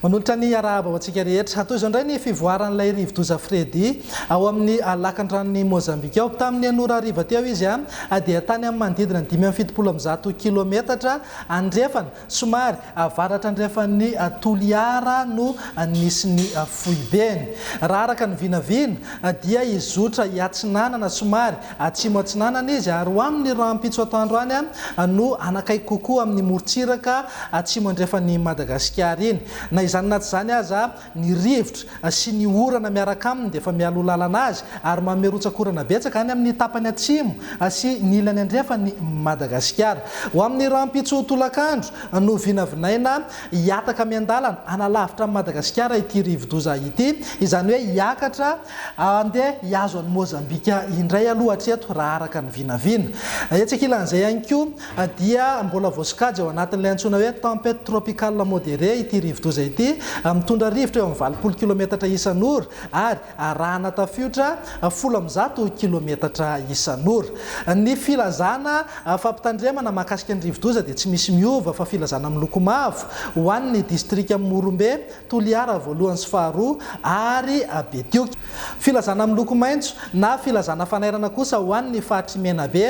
Manolotra ny arahaba ho antsika rehetra. Hatao izao indray ny fivoaran'ilay rivodoza Freddy ao amin'ny lakan-dranon'i Mozambika ao. Tamin'ny an'ora hariva teo izy dia tany amin'ny manodidina ny dimy amby fitopolo amby zato kilometatra andrefana. Somary avaratra andrefan'i Toliara no nisy ny foibeny. Raha araka ny vinavina dia hizotra hiatsinanana somary atsimo-atsinanana izy ary ho amin'ny rahampitso atoandro any no hanakaiky kokoa amin'ny morontsiraka atsimo andrefan'i Madagasikara iny. Na izany na tsy izany aza, Ny rivotra sy ny orana miaraka aminy dia efa mialoha lalana azy ary mamerontsakorana betsaka any amin'ny tapany atsimo sy ny ilany andrefan'i Madagasikara. Ho amin'ny rahampitso tolakandro no vinavinaina hihataka miandalana hanalavitra an'i Madagasikara ity rivodoza ity, izany hoe hiakatra handeha hihazo an'i Mozambika indray aloha hatreto raha araka ny vinavina. Etsy ankilan'izay ihany koa dia mbola voasokajy ao anatin'ilay antsoina hoe Tempête tropicale modérée ity rivodoza ity, mitondra rivotra eo amin'ny valopolo kilometatra isan'ora ary arahana tafiotra folo amby zato kilometatra isan'ora. Ny filazana fampitandremana mahakasika ny rivodoza dia tsy misy miova fa filazana miloko mavo ho an'ny distrikan'i Morombe, Toliara voalohany sy faharoa ary Betioky. Filazana miloko maitso na filazana fanairana kosa ho an' ny faritr' i Menabe,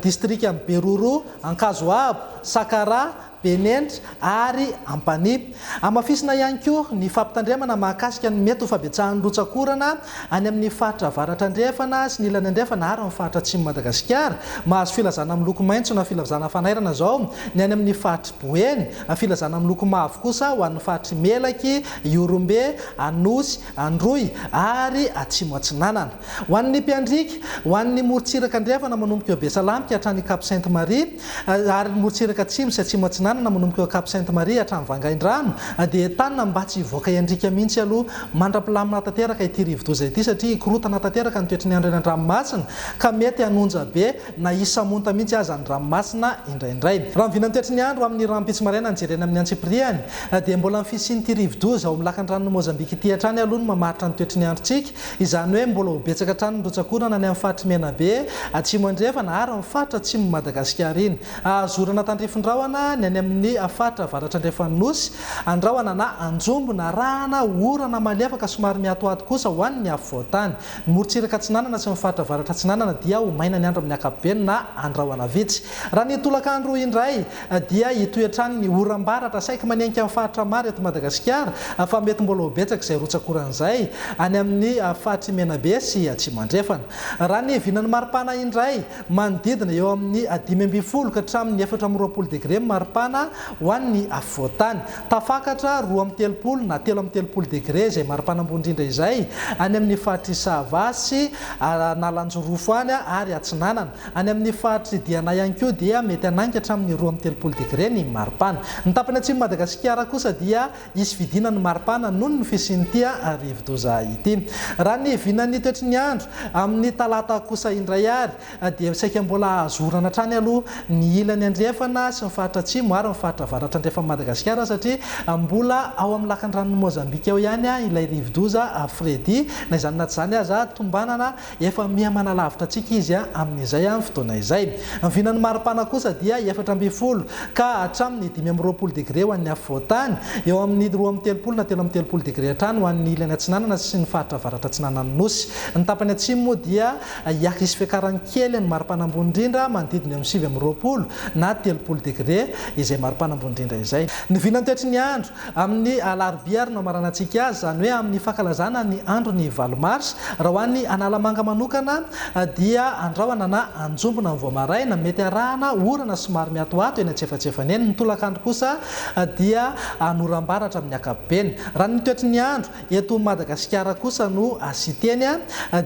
distrikan' ny Beroro, Ankazoabo, Sakaraha, Benenitra ary Ampanihy. Hamafisina ihany koa ny fampitandremana mahakasika ny mety ho fabetsahan' ny rotsakorana Any amin' ny faritra avaratra-andrefana sy ny ilany andrefana ary ny faritra atsimon'i Madagasikara, mahazo filazana miloko maitso na filazana fanairana izao ny any amin' ny faritr'i Boeny, filazana miloko mavo kosa ho an'ny faritr'i Melaky, Ihorombe, Anosy, Androy ary Atsimo Atsinanana. Ho an'ny mpiandriaka, ho an'ny morontsiraka andrefana manomboka eo Besalampi ka hatrany Cap Sainte Marie, ary ny morontsiraka atsimo sy atsimo atsinanana manomboka eo Cap Sainte Marie hatrany Vangaindrano dia entanina mba tsy hivoaka hiandriaka mihitsy aloha mandra-pilamina tanteraka ity rivodoza ity satria hikorontana tanteraka ny toetry ny andro eny an-dranomasina ka mety hanonja be na hisamonta mihitsy aza ny ranomasina indraindray. Raha ny vinan'ny toetry ny andro amin'ny rahampitso maraina no jerena amin'ny antsipiriany dia mbola ny fisian'ity rivodoza ao amin'ny lakandranon' i Mozambika ity hatrany aloha no mamaritra ny toetry ny androntsika Izany hoe mbola ho betsaka hatrany ny rotsak'orana any amin'ny faritry Menabe, Atsimo Andrefana ary ny faritra atsimon'i Madagasikara iny. Hahazo orana tandrifin-drahona ny any amin'ny faritra avaratra andrefan'ny Nosy, andrahona na anjombo na rahana, orana malefaka somary mihatohato kosa ho an'ny afovoan-tany. Ny morontsiraka atsinanana sy ny faritra avaratra atsinanana dia ho maina ny andro amin'ny ankapobeny na andrahona vitsy raha ny tolakandro indray. dia hitohy hatrany ny oram-baratra saiky manenky amin'ny faritra maro eto Madagasikara fa mety mbola ho betsaka izay rotsakoran'izay any amin'ny faritr'i Menabe sy Atsimo Andrefana. Raha ny vinan'ny maripana indray, manodidina eo amin'ny dimy ambin'ny folo ka hatramin'ny efatra amby roapolo degre ny maripana ho an'ny afovoan-tany. Tafakatra roa amby telopolo na telo amby telopolo degre izay maripana ambony indrindra izay any amin'ny faritr'i Sava sy Analanjirofo any ary Atsinanana. Any amin'ny faritr'i Diana ihany koa dia mety hanainga hatramin'ny roa amby telopolo degre ny maripana. Ny tapany atsimon'i Madagasikara kosa dia hisy fidina ny maripana noho ny fisian'ity rivodoza ity. Raha ny vinan'ny toetry ny andro amin'ny talata kosa indray ary dia saika mbola hahazo orana hatrany aloha ny ilany andrefana sy ny faritra atsimo ary ny faritra avaratra andrefan'i Madagasikara satria mbola ao amin'ny lakandranon'i Mozambika ao ihany ilay rivodoza Freddy. Na izany na tsy izany aza tombanana Efa miha manalavitra antsika Izy amin'izay amin'ny fotoana izay. Ny vinan'ny maripana kosa dia efatra ambin'ny folo ka hatramin'ny dimy amby roapolo degre ho an'ny afovoan-tany, eo amin'ny roa amby telopolo na telo amby telopolo degre hatrany ho an'ny ilany atsinanana sy ny faritra avaratra-atsinanan'ny Nosy. Ny tapany atsimo moa dia hisy fiakarany kely ny maripana ambony indrindra manodidina eo amin'ny sivy amby roapolo na telopolo degre izay maripana ambony indrindra izay. Ny vinan'ny toetry ny andro. Amin'ny alarobia ary no hamaranantsika azy, izany hoe amin'ny fankalazana ny andron'ny valo mars. Raha ho an'ny Analamanga manokana dia andrahona na anjombona ny vao maraina, mety arahana orana somary miatoato eny antsefatsefany eny. Ny tolakandro kosa dia hanora ambara hatramin'ny ankapobeny. Raha ny toetry ny andro, Eto Madagasikara kosa no asiteny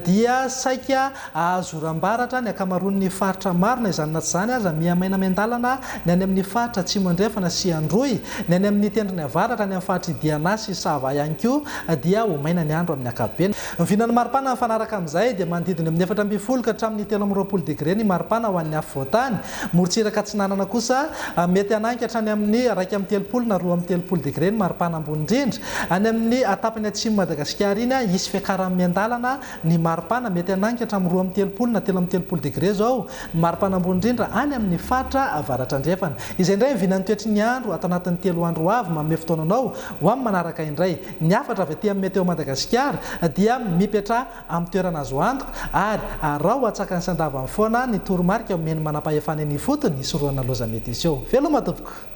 dia saika ahazoram-baratra ny ankamaroan'ny faritra maro na izany na tsy izany aza mihamaina miandalana ny any amin'ny faritra Atsimo Andrefana sy Androy, ny any amin'ny tendrony avaratra, any amin'ny faritry Diana sy Sava ihany koa dia ho maina ny andro amin'ny ankapobeny. Vinan'ny maripana mifanaraka amin'izay dia manodidina eo amin'ny efatra ambin'ny folo ka hatramin'ny telo amby roapolo degre ny maripana ho an'ny afovoantany Morontsiraka Atsinanana kosa, mety hanainga hatrany amin'ny iraika amby telopolo na roa amby telopolo degre ny maripana ambony indrindra. Any amin'ny tapany atsimon'i Madagasikara iny, hisy fiakaran'ny miandalana ny maripana, mety hanainga hatramin'ny roa amby telopolo na telo amby telopolo degre izao ny maripana ambony indrindra any amin'ny faritra Avaratra-Andrefana. Izay indray ny vinan'ny toetry ny andro ato anatin'ny telo andro ho avy. Manome fotoana anao ho amin'ny manaraka indray. Ny hafatra avy aty amin'ny Météo Madagasikara dia mipetraha. amin'ny toerana azo antoka ary araho atsakany sy andavany foana ny toromarika omen'ny manampahefana eny ifotony hisorohana loza mety hiseho. Veloma tompoko!